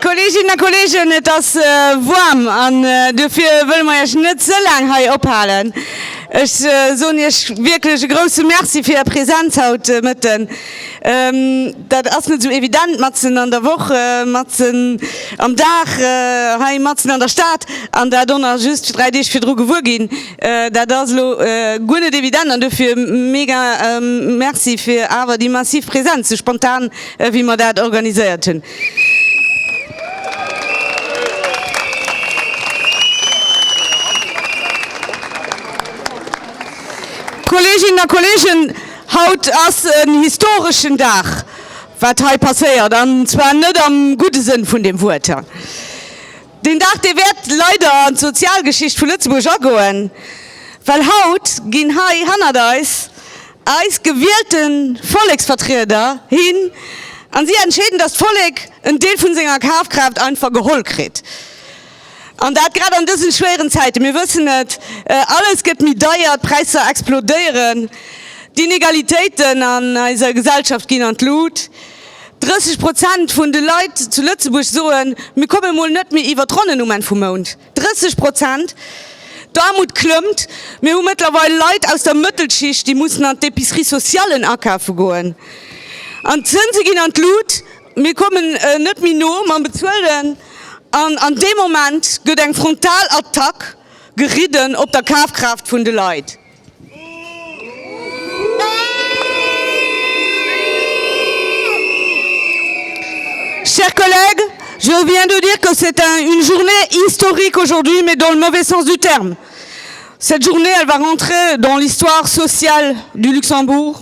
Kolleeginnen a Kolleegen, et ass woarm an duerfir wëlle mer Iech net ze laang hei ophalen. Ech soen Iech wierklech e grousse Merci fir Är Presenz haut de Mëtten. Dat ass net esou evident matzen an der Woch, matzen am Dag hei matzen an der Stad an dat och nach just dräi Deeg virdru gewuer ginn. Dat ass elo guer net evident an dofir mega Merci fir awer déi massiv Präsenz, esou spontan wéi mer dat organiséiert hunn. Kolleeginnen a Kolleegen, Haut ass en historeschen Dag, wat hei passéiert, an zwar net am gudde Sënn vun dem Wuert. Deen Dag, dee wäert leider an d'Sozialgeschicht vu Lëtzebuerg agoen, well haut ginn hei hannert eis eis gewielte Volleksvertrieder hin a si entscheeden, dass d'Vollek en Deel vu senger Kafkraaft einfach geholl kritt. An dat grad an dësen schwéieren Zäiten. Mir wëssen et, alles gëtt méi deier, d'Präisser explodéieren, d'Inegalitéiten an eiser Gesellschaft ginn an d'Lut. 30 Prozent vun de Leit zu Lëtzebuerg soen, mir komme mol net méi iwwer d'Ronnen um Enn vum Mount. 30 Prozent! D'Aarmut klëmmt. Mir hu mëttlerweil Leit aus der Mëttelschicht, déi mussen an d'Epicerie socialen akafe goen. An d'Zënse ginn an d'Lut. Mir kommen net méi no mam Bezuelen an an deem Moment gëtt eng Frontalattack geridden op der Kafkraaft vun de Leit. Chers collègues, je viens de dire que c'est un une journée historique aujourd'hui, mais dans le mauvais sens du terme. Cette journée, elle va rentrer dans l'histoire sociale du Luxembourg.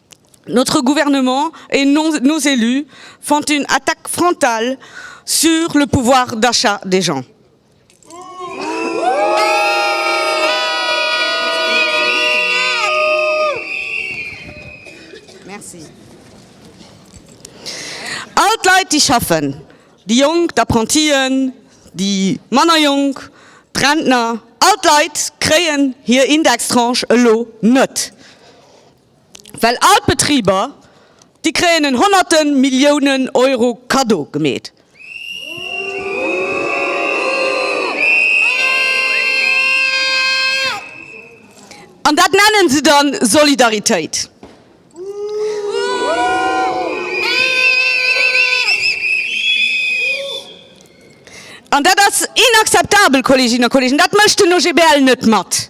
Notre gouvernement et nos élus font une attaque frontale sur le pouvoir d'achat des gens. All d'Leit, déi schaffen, déi Jonk, d'Apprentien, déi manner Jonk, d'Rentner, all d'Leit kréien hir Indextranche elo net. Well all d'Betriber, déi kréien en honnerte Milliounen Euro Cadeau gemeet. An dat nennen se da Solidaritéit. An dat ass inakzeptabel, Kolleginnen a Kollegen. Dat mécht den OGBL net mat.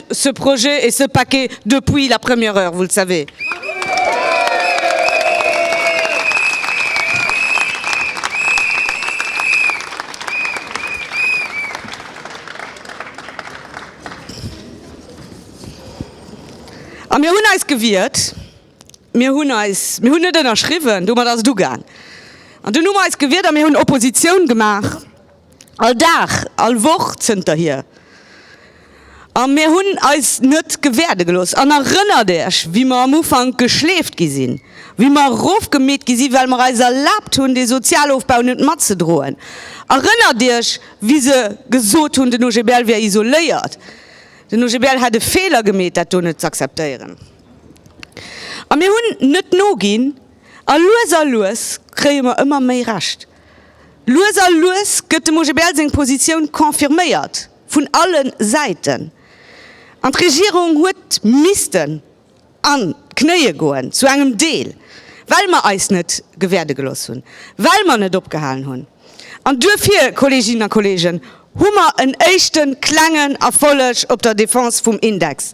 ce projet et ce paquet depuis la première heure, vous le savez. A mir hunn eis gewiert, mir hunn eis, mir hunn net ënnerschriwwen, domat ass et ugaang, an dunn hu mer eis gewiert a mir hunn Opposition gemaach. all Dag, all Woch zënterhier, a mir hunn eis net gewäerde gelooss. An erënnert Iech, wéi mer am Ufank geschleeft gi sinn, wéi mer erofgemeet gi sinn, well mer eis erlaabt hunn, dee Sozialofbau net matzedroen? Erënnert Iech, wéi se gesot hunn, den OGBL wier isoléiert, den OGBL hätt e Feeler gemeet, dat do net z'akzeptéieren? A mir hunn net noginn, a lues a lues kréie mer ëmmer méi Recht. Lues a lues gëtt dem OGBL seng Positioun confirméiert, vun alle Säiten. An d'Regierung huet missten an d'Knéie goen, zu engem Deel, well mer eis net gewäerde gelooss hunn, well mer net opgehalen hunn. An duerfir, Kolleeginnen a Kolleegen, hu mer en éischte klengen Erfolleg op der Defense vum Index.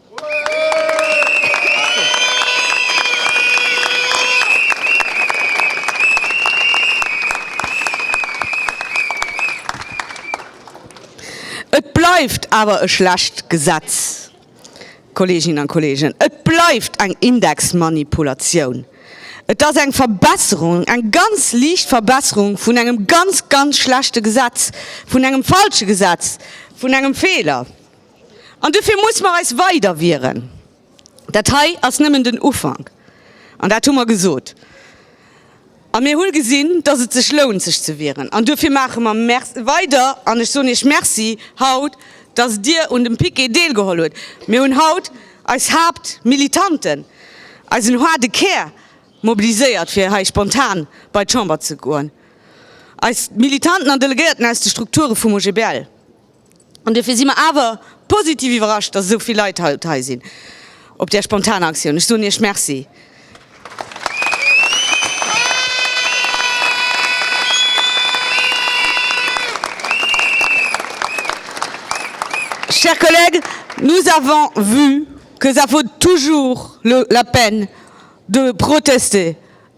Et bleift awer e schlecht Gesetz, Kolleeginnen a Kolleegen. Et bleift eng Indexmanipulatioun. Et ass eng Verbesserung, eng ganz liicht Verbesserung vun engem ganz, ganz schlechte Gesetz, vun engem falsche Gesetz, vun engem Feeler. An dofir muss mer eis weider wieren. Dat hei ass nëmmen den Ufank, an dat hu mer gesot. A mir hu gesinn, dass et sech lount, sech ze wieren. An dofir maache mer weider. An ech soen Iech Merci haut, dass Dir un dem Piquet deelgeholl hutt. Mir hunn haut eis Haaptmilitanten, eisen haarde Kär mobiliséiert, fir hei spontan bei d'Chamber ze goen, eis Militanten an Delegéierten aus de Strukture vum OGBL. An duerfir si mer awer positiv iwwerrascht, dass esou vill Leit haut hei sinn op där spontaner Aktioun. Ech soen Iech Merci. Chers collègues, nous avons vu que ça vaut toujours la peine de protester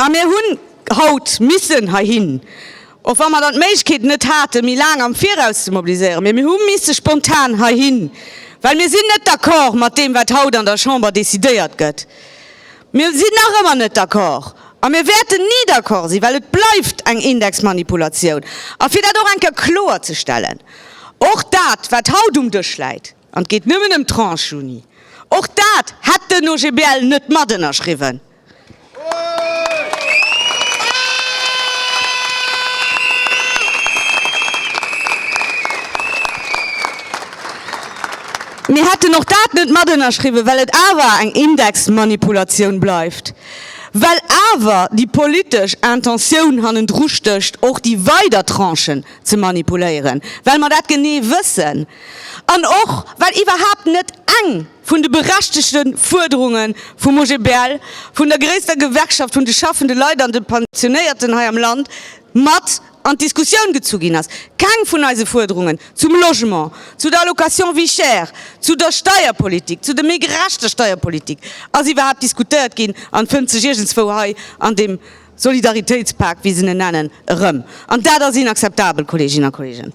A mir hunn haut missen heihin, och wa mer dann d'Méiglechkeet net haten, méi laang am Viraus ze mobiliséieren, mee mir hu misse spontan heihin, well mir sinn net d'accord mat deem, wat haut an der Chamber decidéiert gëtt. Mir sinn nach ëmmer net d'accord a mir wäerten ni d'accord sinn, well et bleift eng Indexmanipulatioun. A fir dat och eng Kéier kloer ze stellen, Och dat, wat haut um Dësch läit, an et geet nëmmen ëm d'Tranche Juni, och dat hätt den OGBL net matënnerschriwwen. Mir hätten och dat net matënnerschriwwen, well et awer eng Indexmanipulatioun bleift, well awer déi politesch Intentioun hannendrustécht, och déi weider Tranchen ze manipuléieren, well mer dat genee wëssen an och well iwwerhaapt net eng vun de berechtegte Fuerderunge vum OGBL, vun der gréisster Gewerkschaft vun de schaffende Leit an de Pensionéierten hei am Land, mat an d'Diskussioun gezu ginn ass, keng vun eise Fuerderungen zum Logement, zu der Allocation vie chère, zu der Steierpolitik, zu der méi gerechter Steierpolitik ass iwwerhaapt diskutéiert ginn an fënnt sech iergendswou hei an deem Solidaritéitspak, wéi se en nennen, erëm. An dat ass inakzeptabel, Kolleeginnen a Kolleegen!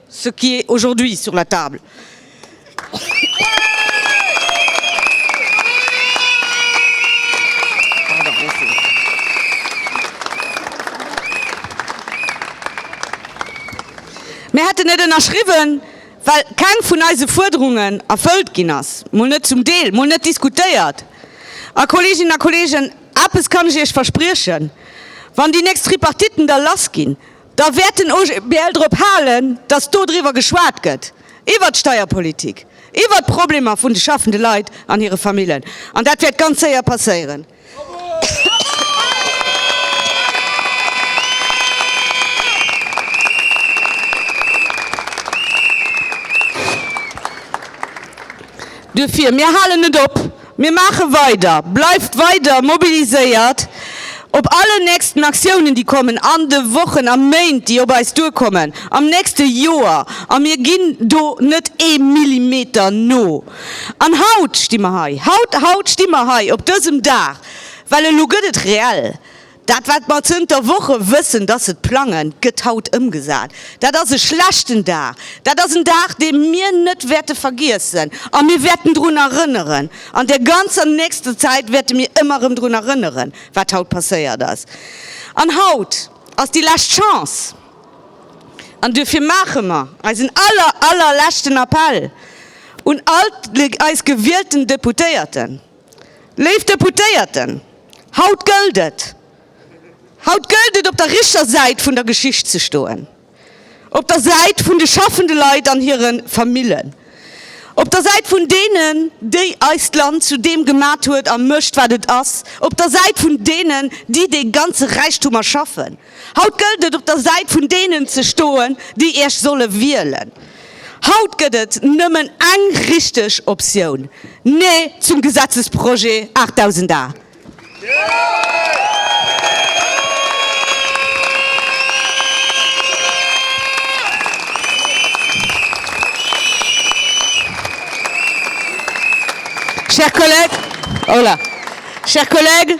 ce qui est aujourd'hui sur la table. Mir hätten net ënnerschriwwen, well keng vun eise Fuerderungen erfëllt ginn ass, mol net zum Deel, mol net diskutéiert. A, Kolleeginnen a Kolleegen, eppes kann ech Iech verspriechen, Wann déi nächst Tripartiten da lassginn, Da wäert den OGBL drop halen, datt do driwwer geschwat gëtt, iwwert d'Steierpolitik, iwwert d'Problemer vun de schaffende Leit an hire Famillen. An dat wäert ganz séier passéieren. Duerfir, mir halen net op! Mir maache weider! Bleift weider mobiliséiert op allen nächsten Aktiounen, déi kommen an de Wochen a Méint, déi op eis duerkommen, am nächste Joer, a mir ginn do net ee Millimeter no. An haut sti mer hei, haut, haut sti mer hei op dësem Dag, well elo gëtt et reell, Dat wat mer zënter Woche wëssen, dass se et plangen, gëtt haut ëmgesat. Dat ass e schlechten Dag. Dat ass en Dag, dee mir net wäerte vergiessen. A mir wäerten drun erënneren. An der ganzer nächster Zäit wäerte mir ëmmer erëm drun erënneren, wat haut passéiert ass. An haut ass déi lescht Chance. An duerfir maache mer eisen aller, allerleschten Appell un all eis gewielten Deputéierten. Léif Deputéierten, haut gëllt et, haut gëllt et op der richter Säit vun der Geschicht ze stoen, op der Säit vun de schaffende Leit an hire Famillen, op der Säit vun deenen, déi eist Land zu deem gemat huet a mécht, wat et ass, op der Säit vun deenen, déi dee ganze Räichtum erschaffen. Haut gëllt et, op der Säit vun deenen ze stoen, déi Iech solle wielen. Haut gëtt et nëmmen eng richteg Optioun, Nee zum Gesetzesprojet 8008! Chers collègues,